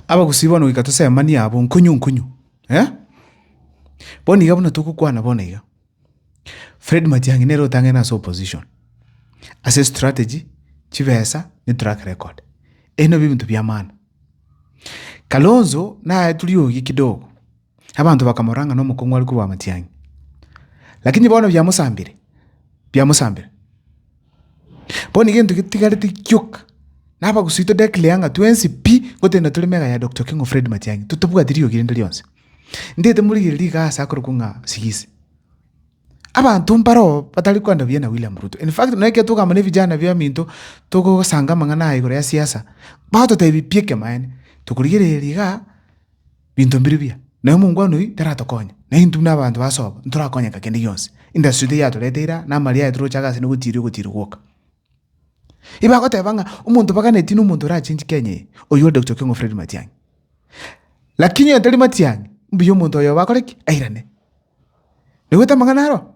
Abagusii bono goika tosemanie abwo, nkonyu nkonyu. Bono iga buna togokwana bono iga, Fred Matiang'i nere otang'ene ase opposition, ase strategy, chibesa, ne track record. Ebi nabio ebinto biamana. Kalonzo naye toriogi kidogo. Abanto bakamorora ng'a nomokong'u are korwa amatiang'i. Lakini bono biamosambire? Biamosambire. Bono egento getigarete gioka, nabagusii to declare ng'a twensi pi gotenda tore mega ya Doctor Okeng'o Fred Matiang'i, totabwati rirogi rinde rionsi. Ndete morigererie rigasi akorokwa ng'a Sigisi. Abanto mbare oo batari kwenda buya na William Ruto. In fact, nonya ekero tokogaamba na ebijana biaminto togosanga amang'ana aya igoro ya siasa, bagototebia pi ekemaene. Tokorigereria igaa. binto mbiru biya, na omongwana oyio taratokonye, na intwe buna abanto ba Sobo ntorakonyeka kende gionsi. Endasio ito yatorete ira, na amaria aye toroche agase na ogotiiria ogotiiri gwoka. Igo bagoteba ng'a omonto baganetie nomonto orachenchie Kenya eye, oyio ore Dokta Okengo Fred Matiang'i. Lakini oyio tari Matiang'i, mbuya omonto oyo bakore ki? Airane. Naigwete amang'ana aro?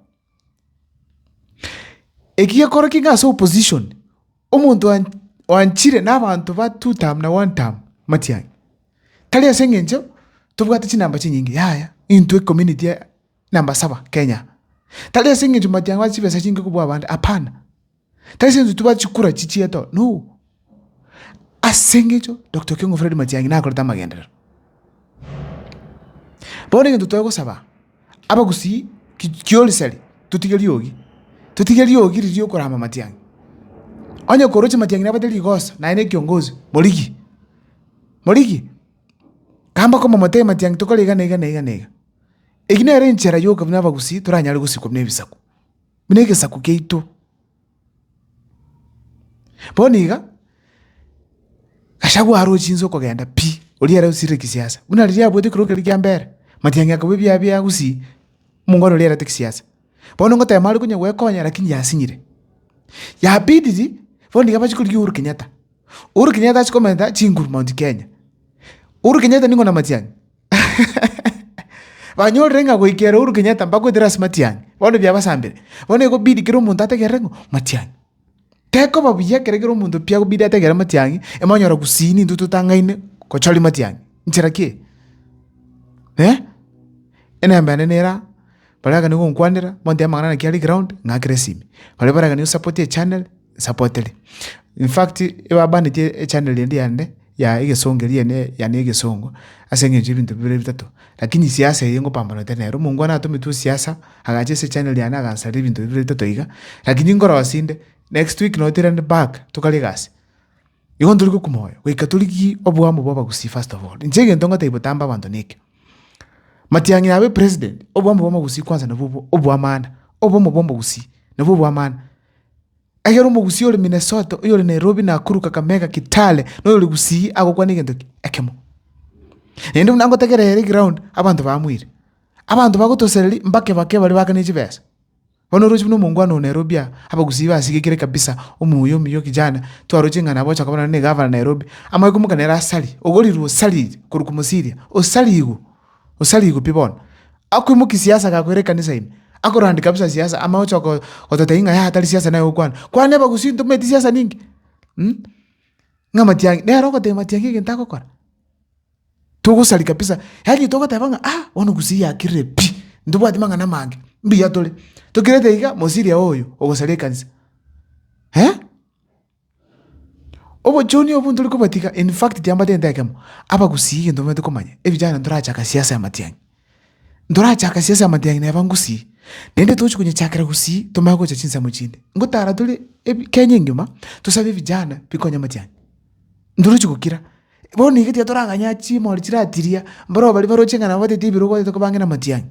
Eki gekorokigwa ng'a ase opposition, omonto oan oanchire na abanto ba two term na one term, Matiang'i, tari ase eng'encho tobwate chinamba chinyinge yaya, intwe ecommunity ya namba saba Kenya, tari ase eng'encho Matiang'i ase chibesa chinge kobua abande, hapana. Tari senyonso tibwati chikura echi chiaye to, no. Ase engecho Doctor Okengo Fred Matiang'i nakorete amagenderero. Bono egento tore gosaba, abagusii ki kiorisari totige riogi, totige riogi riria rio korama Matiang'i. Onye koroche Matiang'i nabate rigoso naye na ekiongozi, morigie, morigie. Ka mbakomomotebia Matiang'i tokore iga na iga na iga na iga. Eyio nere enchera ya okobuna abagusii toranyare gosikwa buna ebisaku. buna egesaku kiaito. Bono iga, Gachagua aroche inse okogenda pi, oria ere osirire kisiasa, buna riria abuete ekero kere kia mbere, Matiang'i akabua ebiaye bia gusii, omongwana oria erete kisiasa. Bono ngoteba are konya gwekonya lakini yasinyire. Ya pidiri, bono iga bachi korigia Uhuru Kenyatta, Uhuru Kenyatta achi komenta chinguru Mount Kenya. Uhuru Kenyatta nigo na Matiang'i. Banyorire ng'a goika ere Uhuru Kenyatta mbagoetera ase Matiang'i, bono biabasambire. Bono ekobidi kera omonto ategerere ng'a Matiang'i. Tekoba buya ekero kera omonto pi akobidi ategerere Matiang'i, emonyora gusii nintwe totang'aine gochoria Matiang'i. Nchera ki eye? Eh? Enemba yane nera aa, baria bagani gonkwanera, montebie amang'ana naki are ground, ng'akere esimi. Baria baragani gosapoti echannel. sapotere. In fact, ebabanetie echaneli eria yande ya egesongo eria yane yane ya egesongo, ase eng'encho ya ebinto bibere bitato, rakini siasa eye ngopambanete nere. Omongwana atometwe siasa, agacha ase echaneli yane agansaria ebinto bibere bitato iga, rakini nkorosia inde, next week noo tirende back, tokare egasi. Igo ntori gokuma oyo, goika torigie oboamo bwa abagusii first of all. Inche egento ngotebi botambe abanto na eke, matiang'i abe president, oboamo bwa omogusii kwansa nabwo obo oboamana, oboamo bwa omogusii nabwo oboamana. Ekero omogusi ore Minnesota, oyore Nairobi, Nakuru, Kakamega, Kitale, na oyore Gusii agokwana egento eke, ekemo. Naende buna ngotagera ere ground, abanto bamoire. Abanto bagotosereria, mbake bake bare baakane chibesa. Bono oroche buna omongwana oo Nairobi aa, Abagusii basigekire kabisa, omuya omuya okijana, twaroche ng'a nabocha koba nonye na egavana Nairobi, amoe komoka nere asari, ogorirwe osariri korwa Komosiria, osarigwe. Gose arigwe pi bono? Akoimokia siasa agakwera ekanisa ime, akorandi kabisa siasa, amo ogocha gototebia ng'a yaya tari siasa naye gokwana. Kwane abagusii intwe momanyeti siasa ninki? Ng'a matiang'i, nere ogotebia matiang'i egento agokora? Togosaria kabisa, yaani togoteba ng'a aa, bono gusii yakirire pi, ntobwati mang'ana amange, mbuya tore. Tokirete iga, mosiria oyo, ogosaria ekanisa. Obochuni obwo ntore kobatiga in fact tiambatente ekemo, abagusii egento bamanyete komanya, evijana ntorachaka siasa ya matiang'i, ntorachaka siasa ya matiang'i neba ngusii, naende tochi konyechakera gusii tomanye gocha chinsemo chinde, ngotara tore ebi kenya engima tosabe evijana bikonye amatiang'i, ndorochi gokira, bono iga tiga torang'anya chimori chiratiria, mboroo baria baroche ng'a nabo batete ebirogo batete kobang'ina amatiang'i.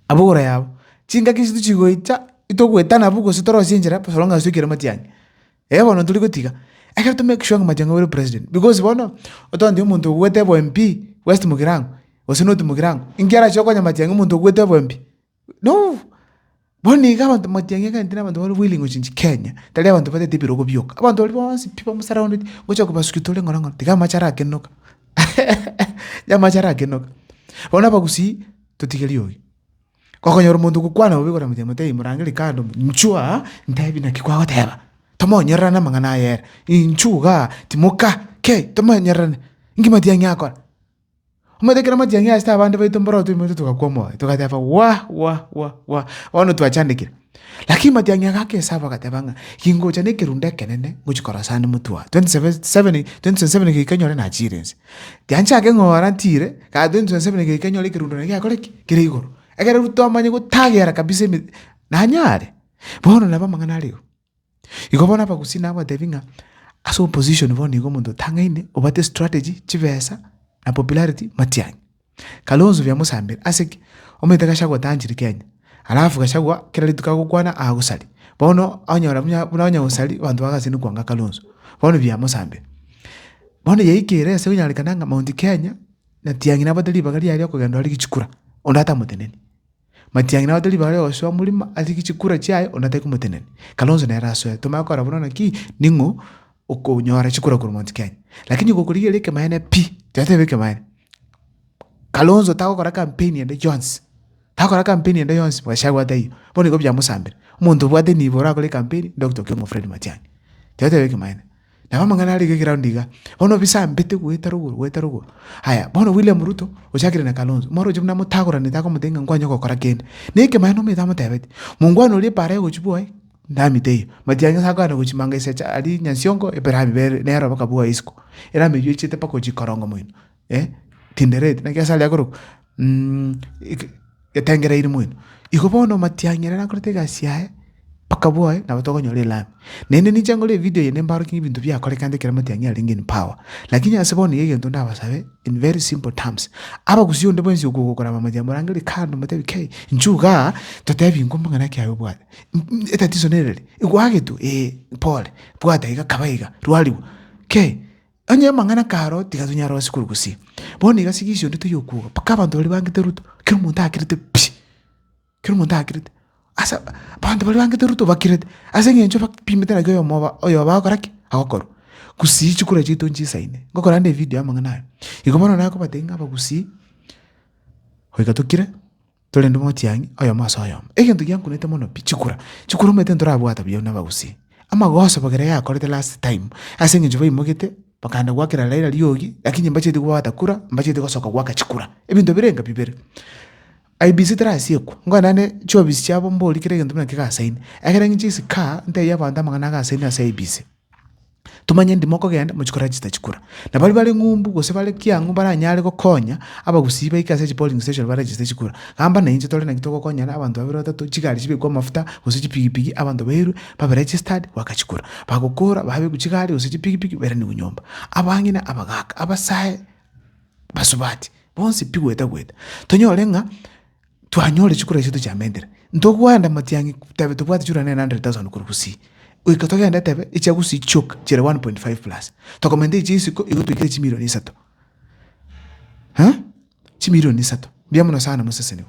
Abogora yabo, chingaki echio tichigoita itogwetana abwo gose torosie enchera bosa bono ng'asusu ekero matiang'e. Eeh bono tori gotiga, ekero to make sure ng'a matiang'e ore president because bono, otoanchete omonto obwate obo MP west mogirango, gose north mogirango, inki arache okonya matiang'e omonto obwate obo MP? Nobobe. Bono nigo abanto motiangi egenti na abanto bare willing gochia gochia Kenya, tari abanto batagete ebirogo bioka, abanto baria bonsi pi bamosurrounded ngochia kobasukia tore ng'ora ng'ora tiga amache arakene oka tiga amache arakene oka. Bono abagusii totige riogi, okonyora omonto ogokwana bobe igoro ya motiangi motebi morangeri kando inchuo aa ntebi naki kwagoteba, tomonyorerane amang'ana aye ere, inchuo igaa timoka kei tomonyorerane, inki motiangi akora. Omanyete ekero amatiang'i asete abande baito mboro toimoeto togakwa omoyo, togateba wah, wah, wah, wah, bono twachandekire. Lakini matiang'i aga agesaaba agateba ng'a ingocha nekerundo ekenene ngochia korasana emotwe oye, 2027 geika nyore nachiire inse. Tianchake ng'ora ntiire, kare 2027 geika nyore ekerundo naende gekore ki? Kere igoro. Ekero rw twamanya gotagera kabisa eme, nanyare. Bono nabo amang'ana are igo. Igo bono abagusii nabo batebi ng'a ase opposition bono igo omonto otang'aine obwate strategy, chibesa na popularity matiang'i. Kalonzo biamosambire ase ki? Omanyete Gachagua otanchire Kenya, alafu Gachagua kera rituko agokwana agosari. Bono onyora buna buna onye gosari abanto bagasiria kwanga Kalonzo, bono biamosambire. Bono yaikire ase konyarekana ng'a Mount Kenya, natiang'i nabwate ribaga riaye riakogenda rigichikura, onde atamoteneni. Matiang'ina abatebi bare osoa morimo ase chikura chiaye onde atari komotenena. Kalonzo nere asoe. Tomanye gokora buna naki ning'o okonyora chikura korwa Mount Kenya. Lakini gokorigereria ekemanyeene pi toyotebe ekemanyeene. Kalonzo tagokora campaign ende yonsi. Tagokora campaign ende yonsi gachagua ataiyo. Bono igo biamosambire. Omonto obwate nibo orakore campaign Doctor Okioma Fred Matiang'i. Toyotebe ekemanyeene. Nabo amang'ana are iga egeroundi iga, bono bisambete goeta rogoro goeta rogoro. Aya bono William Ruto ochakire na Kalonzo, mwarorire buna motagoranete akomotebi ng'a nkwanye gokora kende. Na ekemo aye nomoeto amotebeti, mongwana oria epaara y'ogochia bwoye namite eyio. Matia ng'a akogana gochia manga esecha aria Nyansiongo ebere amibe nere oboka bwoye isiko. Ere amiyochiete mpaka ochia korongo moino. eh, tindereti, naki ase aria akorokwa mm, ik- etengereiri mwino. Igo bono omatiang'ina nakorete egasi yaye, mpaka bwoye, nabo tokonyora elami. Naende ninche nkore evideo eye nimbaorokie ng'a ebinto biakorekante ekero amatiang'ina arenge in power. Lakini ase bono iga egento ndabasabe in very simple terms, abagusii onde bwensi okogokora amamanya morangeri kando motebi kei, inchuo igaa, totebi inko mbong'ina ki aye obwate. M- m- Etatizo nere eri, egoagetwe, ee, pole, bwata iga, kaba iga, rwarigwa, kei, Onye amang'ana karo tiga tonyare onsi korugusia. Bono iga sigisi onde toyokwoga mpaka abanto baria bangete Ruto kera omonto akirete pi. Kera omonto akirete. Asa abanto baria bangete Ruto bakirete ase eng'encho bapimete naki oyomo oyoba agokora ki? Agokorwa. Gusii chikura chiaito nchisaine. Ngokorande evidio y'amang'ana aya. Igo bono naye okobatebia ng'a abagusii goika tokire. Torende motiang'i, oyomo ase oyomo. Egento giankunete mono pi, chikura. Chikura omanyete ntorabwate buya buna abagusii. Amagoso bagera yakorete last time, ase eng'encho baimogete, bakaenda goakera Raila riogi, lakini mbacheti kobwata kura, mbacheti gosoka goaka chikura. Ebinto bire enga bibere. IEBC terasiekwa, ngore naende chiofisi chiabo mbori kera egento buna kegasaini. Ekero ng'inche isiko aa, ntebie abanto amang'ana agasaini ase IEBC. Tomanya endi mokogenda, mochie korera chitachi kora. Na baria bare ng'umbu gose bare kiang'u baranyare gokonya abagusii baike ase chipolling station barere chitachi kora. Gamba na inche tore naki togokonyana abanto babere batato, chigari chibekwe amafuta gose chipigipigi abanto bairwe babe registered goaka chikura. Bagokora babekwe chigari gose chipigipigi bairanikwe nyomba. Abang'ina abagaka, abasae basubati, bonsi pi gweta gweta. Tonyore ng'a Twanyore chikura chiaito chiamentere, ntogwenda motiye ng'a tebe tobwati chura 900,000 korwa gusii, goika togende tebe echia gusii chioka chire 1.5 plus, tokomaintain chia isiko igo toikere chimirioni isato. Eeh, chimirioni isato! Mbuya mono sana, moseseniwa.